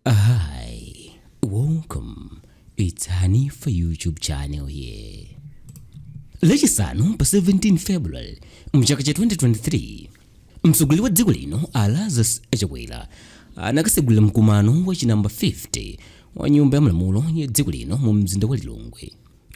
Hi, welcome. It's Hanifa YouTube channel here. Lachisanu pa 17 February mchaka cha 2023 mtsogoleri wa dziko lino a Lazarus Chakwera anakasegulira mkumano wa chinamba 50 wa nyumba ya malamulo ya dziko lino mu mzinda wa Lilongwe.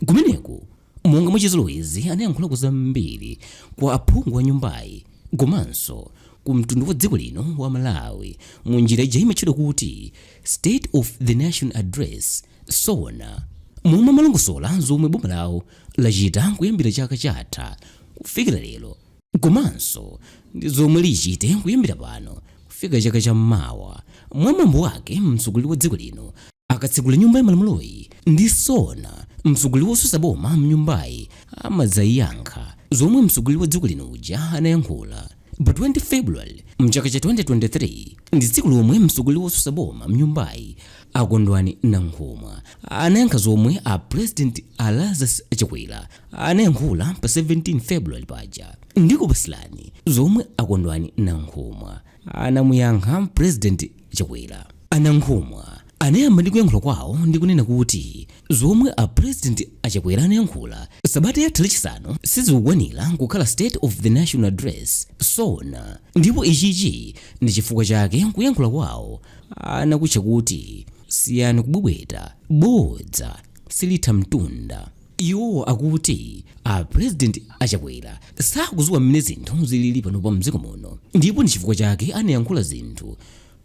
Kumeneko Monga mwa chizolowezi anayankhulako zambiri kwa aphungu a nyumbayi komanso ku mtundu wa dziko lino wa Malawi mu njira ija imatchedwa kuti State of the Nation Address, SONA, momwe amalongosola zomwe boma lawo lachita kuyambira chaka chatha kufikira lero. Komanso ndi zomwe lichite kuyambira pano kufika chaka cha mawa. Mwa mwambo wake, mtsogoleri wa dziko lino akatsekula nyumba ya malamuloyi ndi SONA, mtsogoleri wosusa boma mnyumbayi amadzayankha zomwe mtsogoleri wa dziko lino uja anayankhula pa 20 February mchaka cha 2023 ndi tsiku lomwe mtsogoleri wosusa boma mnyumbayi a Kondwani Nankhumwa anayankha zomwe a President a Lazarus Chakwera anayankhula pa 17 february paja ndikupasilani zomwe akondwani nankhumwa anamuyankha president chakwera anankhumwa anayamba ndi kuyankhula kwawo ndi kunena kuti zomwe a president achakwera anayankhula sabata yatha lachisanu sizikukwanira kukhala state of the national address sona ndipo ichichi ndi chifukwa chake kuyankhula kwawo anakutcha kuti siyani kubwebweta bodza silitha mtunda Iwo akuti a President a Chakwera sakuziwa mmene zinthu zilili panopa mdziko muno ndipo ndi chifukwa chake anayankhula zinthu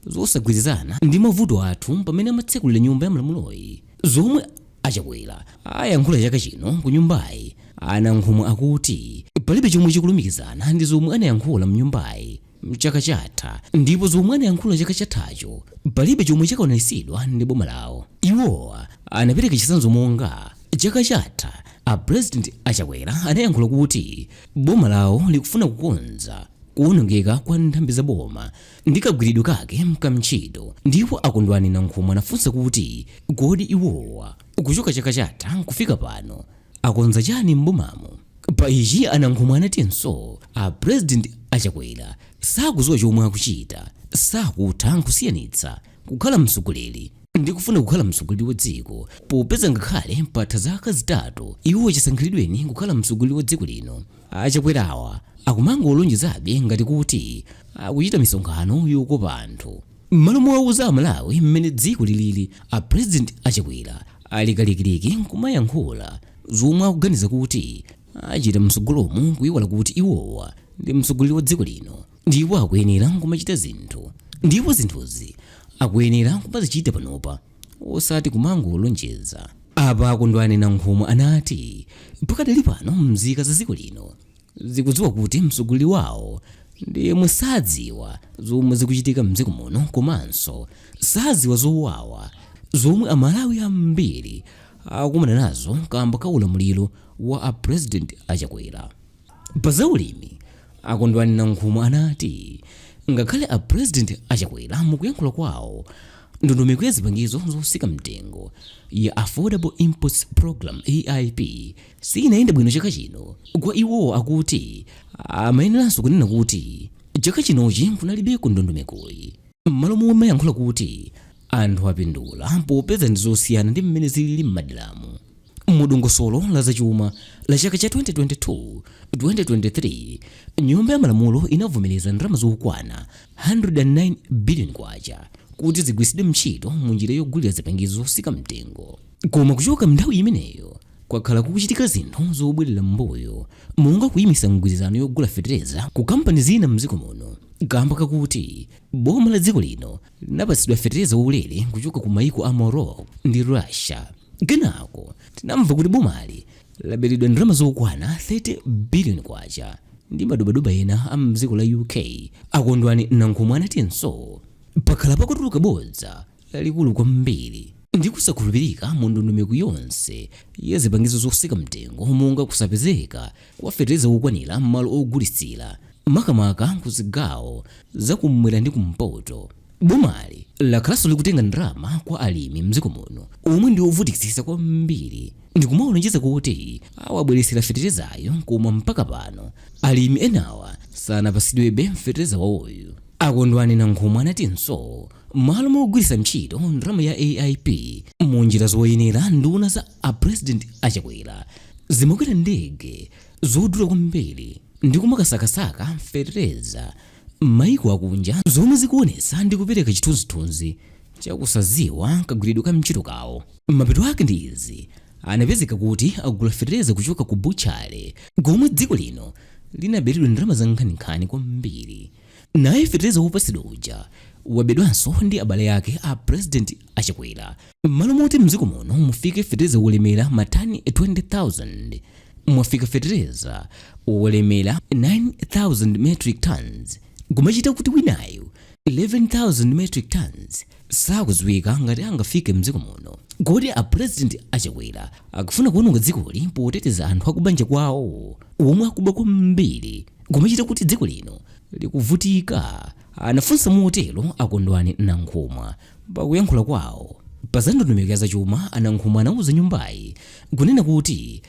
zosagwirizana ndi mavuto athu pamene amatsekulira nyumba ya malamuloyi. Zomwe a Chakwera ayankhula chaka chino ku nyumbayi, a Nankhumwa akuti palibe chomwe chikulumikizana ndi zomwe anayankhula mnyumbayi. mchaka chatha ndipo zomwe anayankhula chaka chathacho palibe chomwe chakwaniritsidwa ndi boma lawo iwowa anapereka chitsanzo monga chaka chatha a president achakwera anayankhula kuti boma lawo likufuna kukonza kuwonongeka kwa nthambi za boma ndi kagwiridwe kake ka ntchito ndipo akondwani nankhumwa anafunsa kuti kodi iwowa kuchoka chaka chatha nkufika pano akonza chani m'bomamo pa ichi anankhumwa anatinso a president achakwera sakuziwa chomwe akuchita sakutha nkusiyanitsa kukhala mtsogoleri ndi kufuna kukhala mtsogoleri wa dziko popeza ngakhale patha zaka zitatu iwo chisankhiridweni kukhala mtsogoleri wa dziko lino achakwerawa akumangolonjezabe ngati kuti akuchita misonkhano yokopa anthu M'malo mowauza aMalawi mmene dziko lilili, a President a Chakwera ali kalikiliki nkumayankhula zomwe akuganiza kuti achita mtsogolomu kuiwala kuti iwowa ndi mtsogoleri wa dziko lino ndipo akuyenera kumachita zinthu ndipo zinthuzi akuyenera kumazichita panopa osati kumangolonjeza. Apa a Kondwani Nankhumwa anati pakadali pano mzika za dziko lino zikudziwa kuti mtsogoleri wawo ndi yemwe sadziwa zomwe zikuchitika mdziko muno komanso sadziwa zowawa zomwe amalawi ambiri akumana nazo kamba ka ulamuliro wa a president achakwera pa zaulimi akondwani nankhumwa anati ngakhale a president achakwera mukuyankhula kwawo ndondomeko ya zipangizo zosika mtengo ya affordable inputs program aip siinayenda bwino chaka chino kwa iwowo akuti amayeneranso kunena kuti chaka chinochi kunalibeko ndondomekoyi m'malo momayankhula kuti anthu apindula popeza ndi zosiyana ndi mmene zilili m'maderamu mu dongosolo la zachuma la chaka cha 2022 2023 nyumba ya malamulo inavomereza ndalama zokwana 109 billion kwacha kuti zigwiritsidwe ntchito mu njira yogulira zipangizo zosika mtengo koma kuchoka mnthawi imeneyo Kwakhala kukuchitika zinthu zobwerera m'mbuyo monga kuyimitsa mgwirizano yogula fetereza ku kampani zina m'dziko muno kamba kakuti boma la dziko lino linapatsidwa fetereza waulere kuchoka ku mayiko a Morocco ndi Russia. Kenako tinamva kuti bomali laberedwa ndalama zokwana 30 billion kwacha ndi madobadoba ena a m'dziko la UK, a Kondwani Nankhumwa anatinso. Pakhala pakutuluka bodza lalikulu kwambiri ndi kusakhulupirika mu ndondomeko yonse ya zipangizo zosika mtengo monga kusapezeka kwa fetereza wokwanira m'malo ogulitsira makamaka ku zigawo za kummwera ndi kumpoto bomali lakhalanso likutenga ndalama kwa alimi mdziko muno omwe ndi ovutikitsitsa kwambiri ndikumawalonjeza kuti awabweretsera feterezayo koma mpaka pano alimi enawa sanapatsidwebe fetereza wawoyu akondwani nankhumwa anatinso M'malo mogwiritsa ntchito ndalama ya AIP mu njira zoyenera nduna za a President a Chakwera zimakwera ndege zodula kwambiri ndi kumakasakasaka fetereza m'maiko akunja zomwe zikuonetsa ndi kupereka chithunzithunzi cha kusadziwa kagwiridwe ka ntchito kawo. Mapeto ake ndi izi, anapezeka kuti agula fetereza kuchoka ku butchala komwe dziko lino linaberedwa ndalama zankhaninkhani kwambiri. Naye feteleza wopatsidwa uja wabedwanso ndi abale ake a President a Chakwera. Mmalo moti mdziko muno mufike feteleza wolemera ma tani 20,000, mwafika feteleza wolemera 9,000 metric tonnes kumachita kuti winayo 11,000 metric tonnes. sakudziwika ngati angafike mdziko muno. Kodi a President a Chakwera akufuna kuononga dzikoli poteteza anthu akubanja kwawo omwe akuba kwambiri kumachita kuti dziko lino likuvutika? Anafunsa motero a Kondwani Nankhumwa pakuyankhula kwawo. Pa za ndondomeko ya dzachuma, a Nankhumwa anauza nyumbayi kunena kuti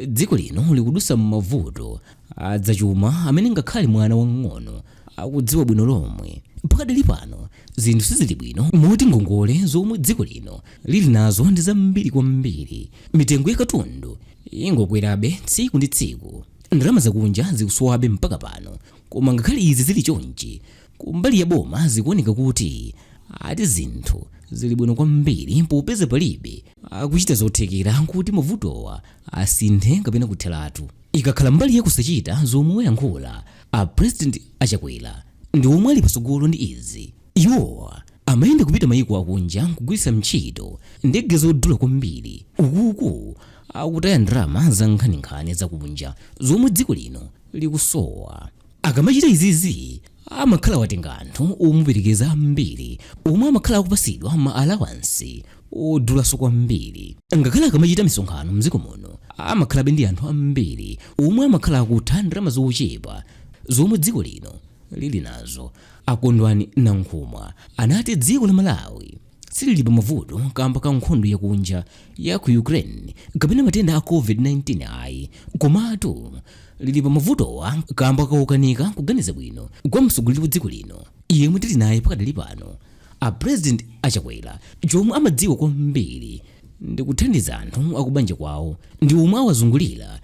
dziko lino likudusa m'mavuto adzachuma amene ngakhale mwana wamng'ono akudziwa bwino lomwe pakadali pano zinthu sizili bwino moti ngongole zomwe dziko lino lili nazo ndi zambiri kwambiri mitengo ya katundu ingokwerabe tsiku ndi tsiku ndalama zakunja zikusowabe mpaka pano koma ngakhale izi zili chonchi kumbali ya boma zikuoneka kuti ati zinthu zili bwino kwambiri popeza palibe akuchita zothekera kuti mavutowa asinthe kapena kutheratu Ikakhala mbali ya kusachita zomwe wayankhula a president a Chakwera ndi omwe ali patsogolo ndi izi. Iwowa amayenda kupita maiko akunja nkugwiritsa ntchito ndege zodula kwambiri ukuku akutaya ndalama za nkhaninkhani zakunja zomwe dziko lino likusowa. akamachita izizi amakhala watenga anthu omuperekeza ambiri omwe amakhala akupasidwa ma alawansi odulanso kwambiri ngakhale akamachita misonkhano mdziko muno amakhalabe ndi anthu ambiri omwe amakhala akutha ndalama zochepa zomwe dziko lino lili nazo akondwani nankhumwa anati dziko la malawi silili pamavuto kamba ka nkhondo yakunja ya ku Ukraine kapena matenda a COVID-19 ayi, komatu lili pamavutowa kamba kaukanika kuganiza bwino kwa mtsogoleri wa dziko lino yemwe tili naye pakadali pano a President a Chakwera. Chomwe amadziwa kwambiri ndi kuthandiza anthu akubanja kwawo ndi omwe awazungulira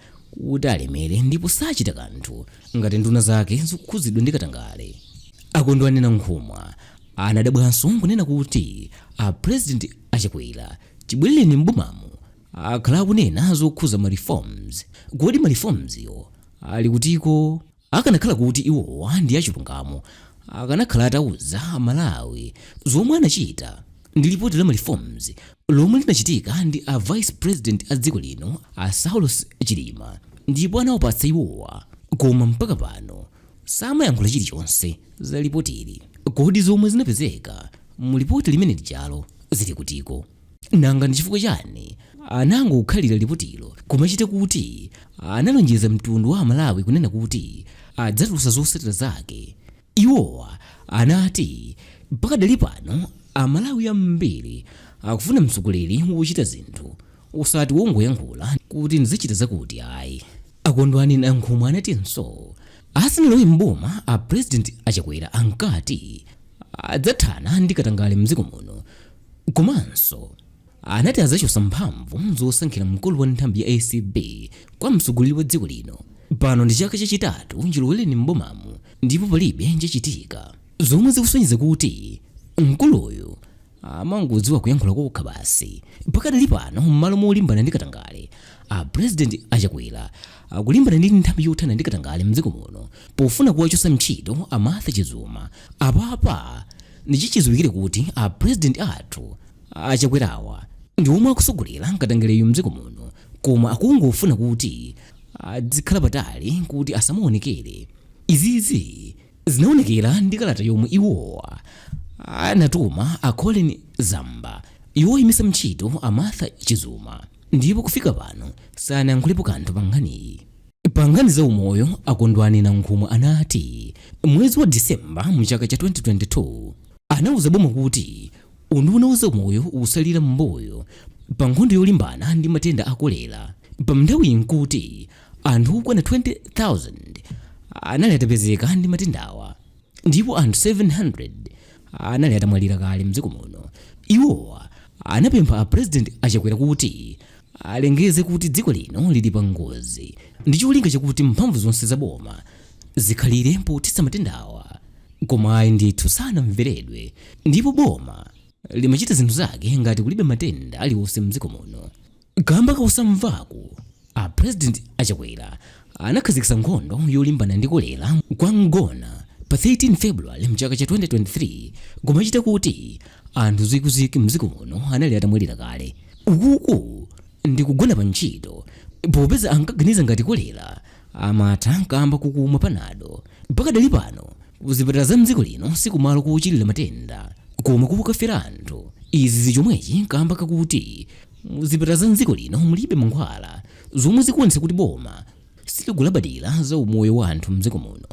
kuti alemere ndipo sachita kanthu ngati nduna zake zikukhudzidwa ndi katangale. Akondwani Nankhumwa Anadabwanso n'kunena kuti a President a Chakwera chibweleleni m'bomamo akhala akunena zokhuza ma reforms. Kodi ma reforms yo ali kutiko? Akanakhala kuti iwowa ndi achilungamo akanakhala atauza a Malawi zomwe anachita ndi lipoti la ma reforms lomwe linachitika ndi a Vice President a dziko lino a Saulos Chilima ndipo anawapatsa iwowa koma mpaka pano samayankhula chilichonse za lipotili. Kodi zomwe zinapezeka mu lipoti limene lijalo zili kutiko? Nanga ndi chifukwa chani anangokhalira lipotilo kumachita kuti analonjeza mtundu wa Amalawi kunena kuti adzatulutsa zotsatira zake? Iwowa anati pakadali pano Amalawi ambiri akufuna mtsogoleri wochita zinthu osati wongoyankhula kuti ndizichita zakuti ayi akondwani nankhumwa anatinso asanalowe mboma a president achakwera ankati adzathana ndi katangale mdziko muno komanso anati adzachosa mphamvu zosankhira mkulu wa nthambi ya acb kwa mtsogoleri wa dziko lino pano ndi chaka chachitatu chilowereni mbomamu ndipo palibe chachitika zomwe zikusonyeza kuti mkuluyu amangodziwa kuyankhula kokha basi pakadali pano m'malo molimbana ndi katangale a president achakwera akulimbana ndi nthambi yothana ndi katangale mdziko muno pofuna kuwachotsa ntchito a martha chizuma apapa ndichichidziwikire kuti a president athu achakwerawa ndi omwe akusogolera katangaleyo mdziko muno koma akungofuna kuti adzikhala patali kuti asamaonekere izizi Zinaonekera ndi kalata yomwe iwowa anatuma a Colleen Zamba yoyimitsa ntchito a Martha Chizuma ndipo kufika pano sanayankhulepo kanthu pa nkhaniyi. Pa nkhani za umoyo, a Kondwani Nankhumwa anati mwezi wa December mu chaka cha 2022 anauza boma kuti unduna wa zaumoyo ukusalira m'mbuyo pa nkhondo yolimbana ndi matenda a kolera, pa nthawiyi nkuti Anthu okwana 20,000 anali atapezeka ndi matendawa ndipo anthu 700 anali atamwalira kale mdziko muno. Iwowa anapempha a President a Chakwera kuti alengeze kuti dziko lino lili pa ngozi ndi cholinga chakuti mphamvu zonse za boma zikhalire pothetsa matendawa. Koma ayi ndithu sanamveredwe ndipo boma limachita zinthu zake ngati kulibe matenda aliwonse mdziko muno. kamba kakusamvaku a president achakwera anakhazikitsa nkhondo yolimbana ndi kolera kwa Mgona pa 13 february mchaka cha 2023 kumachita kuti anthu zikwizikwi mdziko muno anali atamwalira kale ukuku ndi kugona pa ntchito popeza ankaganiza ngati kolera amatha kamba kukumwa panado pakadali pano kuzipatala za mdziko lino sikumalo kochilira matenda koma kokafera anthu izi zichomwechi kamba kakuti muzipatala za mdziko lino mulibe mankhwala zomwe zikuonetsa kuti boma silikulabadira za umoyo wa anthu mdziko muno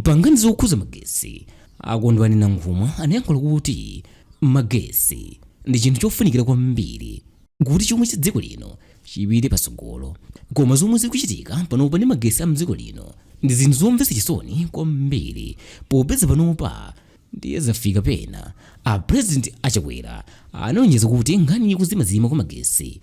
pa nkhani zokhuza magesi a Kondwani Nankhumwa anayankhula kuti magesi ndi chinthu chofunikira kwambiri kuti chuma cha dziko lino chipite patsogolo koma zomwe zikuchitika panopa ndi magesi a mdziko lino ndi zinthu zomvetsa chisoni kwambiri popeza panopa Ndiye zafika pena a President a Chakwera analonjeza kuti nkhani yakuzimazima kwa magetsi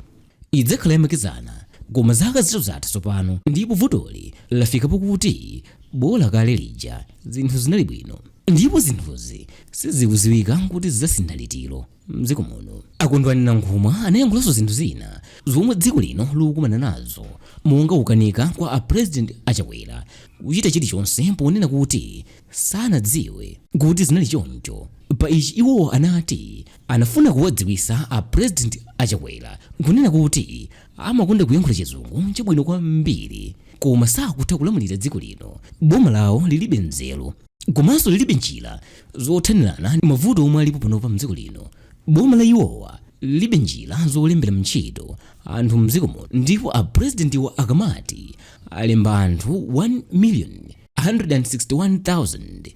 idzakhala yamakedzana koma zaka zitatu zatha tsopano ndipo vutoli lafika pokuti bola kale lija zinthu zinali bwino ndipo zinthuzi sizikudziwika kuti zidzasintha liti. mdziko muno a Kondwani Nankhumwa anayankhulanso zinthu zina zomwe dziko lino likukumana nazo monga kukanika kwa a president a Chakwera kuchita chilichonse ponena kuti sanadziwe kuti zinali choncho pa ichi iwo anati anafuna kuwadziwitsa a president a Chakwera kunena kuti amakonda kuyankhula chizungu chabwino kwambiri koma sakutha kulamulira dziko lino boma lawo lilibe nzeru komanso lilibe njira zothanirana ndi mavuto omwe alipo panopa mdziko lino boma la iwowa lilibe njira zolembera mntchito anthu mdziko muno ndipo a presidentiwa akamati alemba anthu 1 million 161,000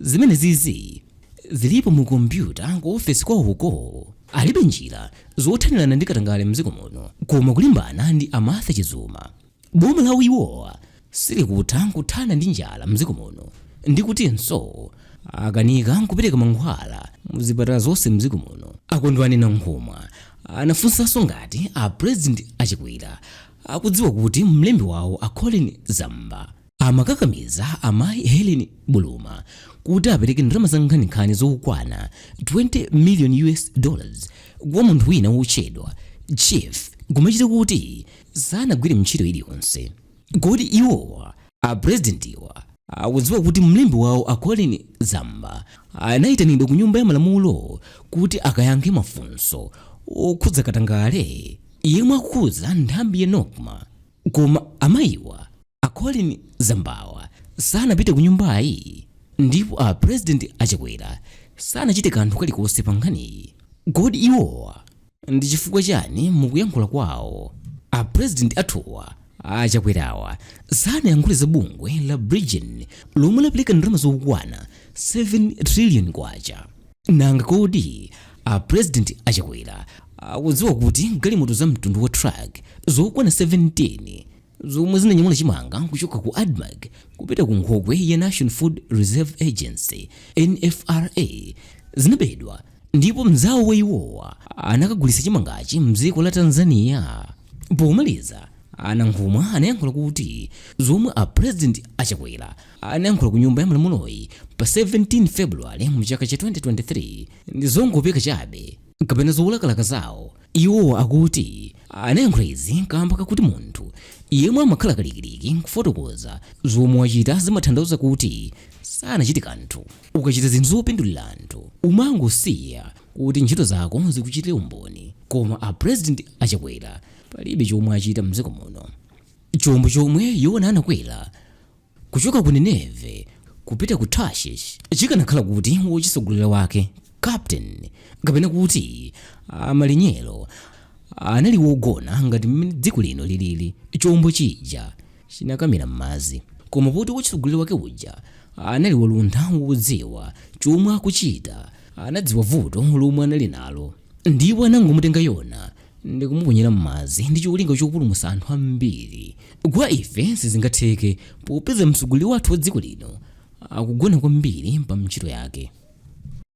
zimenezizi zilipo mu kompyuta ku ofesi kwawoko alibe njira zothanirana ndi katangale mdziko muno koma kulimbana ndi a Martha Chizuma Boma la iwowa silikutha nkuthana ndi njala mdziko muno ndi kutinso akanika nkupereka mankhwala mu zipatala zonse mdziko muno. A Kondwani Nankhumwa anafunsanso ngati a President a Chakwera akudziwa kuti mlembi wawo a Colleen Zamba amakakamiza amayi Helen Buluma kuti apereke ndalama za nkhaninkhani zokwana 20 million US dollars kwa munthu wina wotchedwa Chief kumachita kuti sanagwire mntchito iliyonse kodi iwowa a presidentiwa akudziwa kuti mlembi wawo a Colleen Zamba anaitanidwa ku nyumba ya malamulo kuti akayankhe mafunso okhudza katangale yemwe akukhudza nthambi ya Nocma koma amayiwa A Colleen Zambawa sanapite kunyumbayi ndipo a President a Chakwera sanachite kanthu kalikonse pa nkhaniyi. Kodi iwowa ndi chifukwa chani mukuyankhula kwawo a President athuwa a Chakwerawa sanayankhule za bungwe la Bridgin lomwe lapereka ndalama zokwana 7 trillion kwacha? Nanga kodi a President a Chakwera akudziwa kuti galimoto za mtundu wa truck zokwana 17, zomwe zinanyamula chimanga kuchoka ku admarc kupita ku nkhokwe ya national food reserve agency nfra zinabedwa ndipo mzawo wa iwowa anakagulitsa chimangachi mdziko la tanzania pomaliza a Nankhumwa anayankhula kuti zomwe a president a Chakwera anayankhula ku nyumba ya malamuloyi pa 17 february mchaka cha 2023 ndi zongopeka chabe kapena zolakalaka zawo Iwo akuti anayankhula izi kamba kakuti munthu yemwe amakhala kalikiliki kufotokoza zomwe wachita zimatanthauza kuti sanachite kanthu. Ukachita zinthu zopindulira anthu umangosiya kuti ntchito zako zikuchitire umboni koma a President a Chakwera palibe chomwe achita mdziko muno. Chombo chomwe Yona anakwera kuchoka ku Nineve kupita ku Tarshish chikanakhala kuti wochisogolera wake captain kapena kuti malinyero anali wogona ngati mmene dziko lino lilili chombo chija chinakamira m'madzi koma poti wochisogolera wake uja anali waluntha wodziwa chomwe akuchita anadziwa vuto lomwe anali nalo Ndipo anangomutenga Yona ndi kumuponyera m'madzi ndi cholinga chopulumutsa anthu ambiri. Kwa ife sizingatheke popeza mtsogoleri wathu wa dziko lino akugona kwambiri pa ntchito yake.